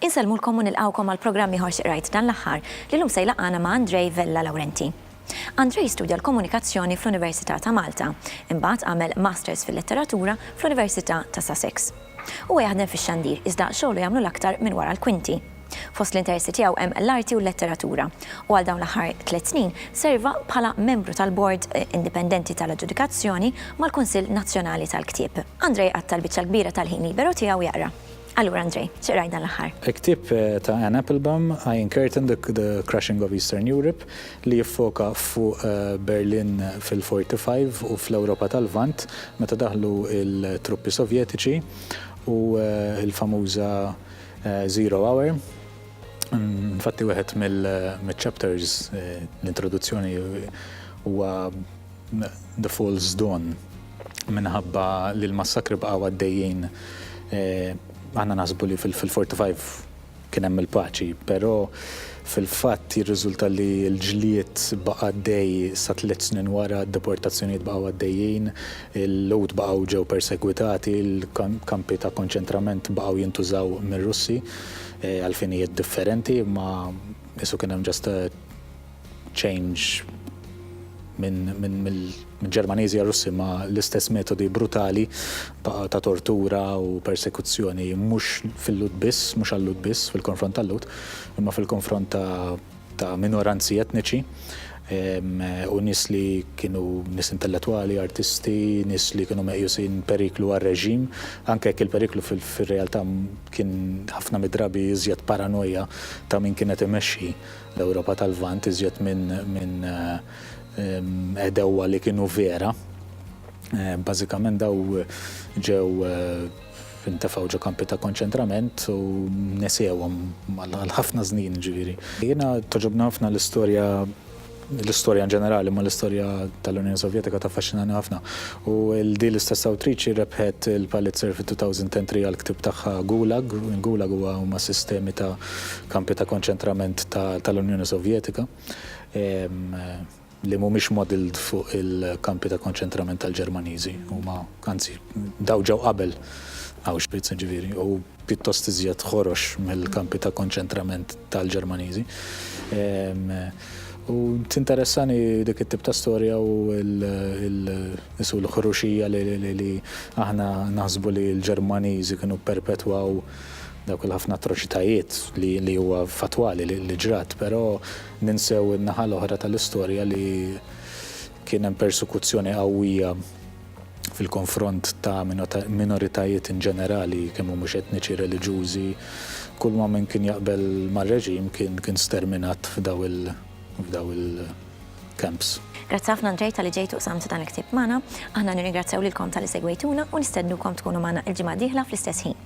Insellmulkom u nilqgħukom għal programm ieħor xi qrajt dan l-aħħar li llum se jlaqqagħna ma' Andrej Vella Laurenti. Andrej studja l-Komunikazzjoni fl-Università ta' Malta, imbagħad għamel Masters fil-Letteratura fl-Università ta' Sussex. Huwa jaħdem fix-xandir iżda xogħlu jagħmlu l-aktar minn wara l-kwinti. Fost l-interesti tiegħu hemm l-arti u l-letteratura, u għal dawn l-aħħar tliet snin serva bħala membru tal-Bord Indipendenti tal-Aġġudikazzjoni mal-Kunsill Nazzjonali tal-Ktieb. Andrei qatta' l-biċċa l-kbira tal-ħin liberu tiegħu jaqra. Allura Andrei, xi qrajt dan l-aħħar? Il-ktieb ta' Anne Applebaum, Iron Curtain, The Crushing of Eastern Europe, li jiffoka fuq Berlin fil-'forty-five u fl-Ewropa tal-Lvant meta daħlu l-truppi Sovjetiċi u l-famuża Zero Hour. Infatti wieħed mill-chapters l-introduzzjoni huwa The False Dawn minħabba li l-massakri bqgħu għaddejjin aħna naħsbu li fil-45 kien hemm il-paċi, però fil-fatt jirriżulta li l-ġlied baqa' għaddej sa tliet snin wara, d-deportazzjonijiet baqgħu għaddejjin, Il-Lhud baqgħu ġew persegwitati, il-kampi ta' konċentrament baqgħu jintużaw mir-Russi għal finijiet differenti, imma qisu kien hemm just a change mill-Ġermaniżi għar-Russi, imma l-istess metodi brutali baqgħu ta' tortura u persekuzzjoni mhux fil-Lhud biss, mhux għal-Lhud biss, fil-konfront tal-Lhud, imma fil-konfront ta'. ta' minoranzi etniċi u nies li kienu nies intellettwali, artisti, nies li kienu meqjusin periklu għar-reġim, anke jekk il-periklu fir-realtà kien ħafna mid-drabi iżjed paranoja ta' min kien qed imexxi l-Ewropa tal-Lvant iżjed minn għedewwa li kienu vera. Bażikament dawn ġew Intefgħu ġo kampi ta' konċentrament u nesewhom għal ħafna snin, jiġifieri. Jiena togħġobni ħafna l-istorja, l-istorja in ġenerali, imma l-istorja tal-Unjoni Sovjetika taffaxxinani ħafna. U din l-istess awtriċi rebħet il-Pulitzer fit-2003 għall-ktieb tagħha Gulag. Gulag huwa, huma sistemi ta' kampi ta' konċentrament tal-Unjoni Sovjetika. li mhumiex modelled fuq il-kampi ta' konċentrament tal-Ġermaniżi, huma, anzi, dawn ġew qabel Auschwitz, jiġifieri, u pjuttost iżjed ħorox mill-kampi ta' konċentrament tal-Ġermaniżi. U tinteressani dik it-tip ta' storja u l-isu l-ħruxija li aħna naħsbu li l-Ġermaniżi kienu pperpetwaw dawk il-ħafna atroċitajiet li huwa fattwali li ġrat, però Ninsew in-naħa l-oħra tal-istorja li kien hemm persekuzzjoni qawwija fil-konfront ta' minoritajiet in ġenerali, kemm mhumiex etniċi, reliġjużi. Kulma min kien jaqbel mar-reġim kien kien sterminat f'daw il f'daw il-camps. Grazzi ħafna Andrej talli ġejt u qsamt dan il-ktieb magħna. Aħna nirringrazzjaw lilkom talli segwejtuna u nistednukom tkunu magħna il-ġimgħa d-dieħla fl-istess ħin.